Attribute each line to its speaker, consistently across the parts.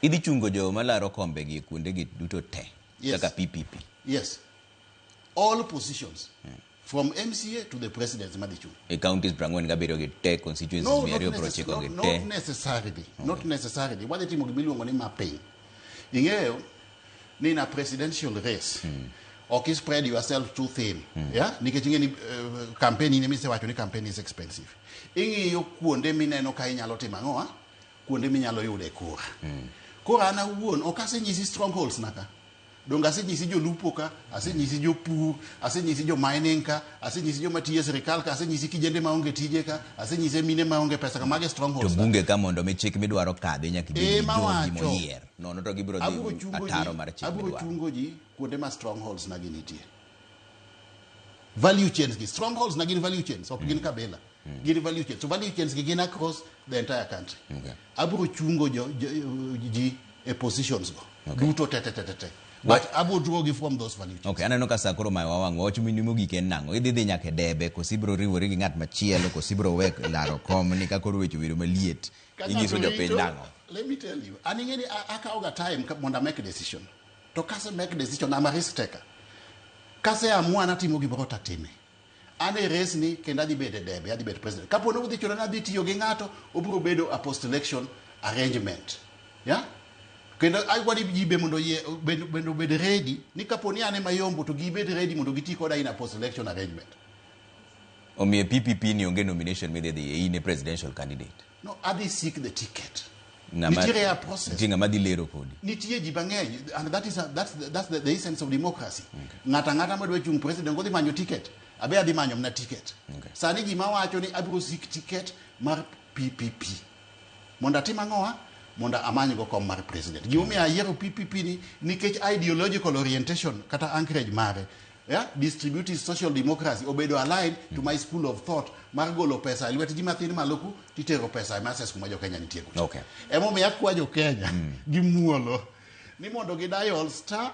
Speaker 1: Idhi chungo jo malaro kombe gi kuonde gi duto te yes. kaka PPP. Yes.
Speaker 2: All positions. Hmm. From MCA to the president madhi chung. E counties
Speaker 1: prangwen gabiro gi te constituencies no, mi ariyo pro chiko
Speaker 2: gi te.
Speaker 1: Not necessarily.
Speaker 2: Okay. Not necessarily. Wadhi timo gima iluongo ni mapping. Ing'eyo ni na presidential race. Hmm. Ok spread yourself too thin. Hmm. Yeah? Nikech ing'e ni uh, campaign ni mise wacho ni campaign is expensive. Ing'iyo kuonde mineno ka inyalo timo ang'o? Ah? kuonde minyalo yude kura mm. koro an awuon ok asenyisi strongholds naka donge asenyisi jolupo ka asenyisi jopur asenyisi jomining ka asenyisi joma tiyo e sirikal ka asenyisi kijende maonge tije ka asenyise mine maonge pesa ka mage strongholds to bunge ka mondo mi chik
Speaker 1: midwaro kadhi nyaka ibed eh, jogi moyier nono to gibiro dhi ataro mar chik midwaro abiro chungo ji kuonde
Speaker 2: ma strongholds nagi nitie value chains gi strongholds nagi value chains ok gin mm. kabila mm. mm. gin value chains so value chains gi gin across the entire country okay. abro
Speaker 1: chungo jo,
Speaker 2: jo, ji e positions go okay. duto tete tete tete but abro draw gi from those value chains okay aneno ka sakoro mai
Speaker 1: wawang wach mini mogik en nango idhi dhi nyaka debe kosi ibro riwori gi ngat machielo kosi ibro wek laro kom ni ka koro wecho wiro maliet inyiso jopiny nango let me tell you
Speaker 2: an ing'eni akawoga time mondo amake decision to kase make decision ama risk taker kase amua natimo gimoro tatime An e resni kendo adhi bedo e debe, adhi bedo president. Kapo ni udhi chuno ni adhi tiyo gi ng'ato, obiro bedo a post election arrangement. Yeah? Kendo agwa ni ji be mondo yie bed bed obed ready ni kapo ni an ema yombo to gibed ready mondo giti koda in a post election arrangement.
Speaker 1: Omiyo PPP ni onge nomination midhi dhiye in e presidential candidate. No, adhi seek
Speaker 2: the ticket. Ng'ama- Nitiere a process. nitie ng'ama dhi lero kodi
Speaker 1: Nitie ji mang'eny
Speaker 2: and that is a, that's, the, that's the, the essence of democracy. Ng'ato ang'ata madwa chung' president kodhi manyo ticket. Abe adhi manyo mna ticket. Okay. Sani ji mawacho ni abiro seek ticket mar PPP. Mondo atim ang'owa? Mondo amanygo kom mar president. Gimomiyo ayiero PPP ni nikech ideological orientation kata anchorage mare yeah, distributive social democracy obedo aligned mm. to my school of thought mar golo pesa e lwet ji mathin maloku titero pesa e mases kuma jokenya nitie kucho okay. emomiyo akwa
Speaker 1: jokenya
Speaker 2: mm. gi muolo ni mondo gi dial star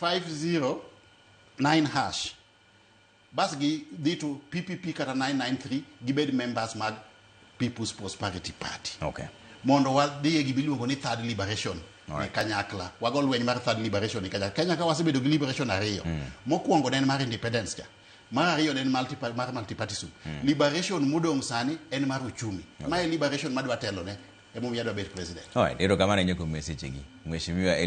Speaker 2: 509 hash bas gi dhi to ppp kata 993 gibed members mag People's Prosperity Party. Okay. Mondo
Speaker 1: wadhi
Speaker 2: e gima iluongo ni Third Liberation e Alright. kanyakla. Wago lweny mar Third Liberation e kanyakla. Kenya ka wasebedo gi liberation ariyo. Mokwongo ne en mar independence cha. Mar ariyo ne en multi mar multipartism. Liberation modong' sani en mar uchumi. Ma e liberation madwa telone.
Speaker 1: Emomiyo adwa
Speaker 2: bet
Speaker 1: president. Alright,
Speaker 2: erokamano
Speaker 1: ahinya
Speaker 2: kuom
Speaker 1: mesechegi.
Speaker 2: Mheshimiwa Eliud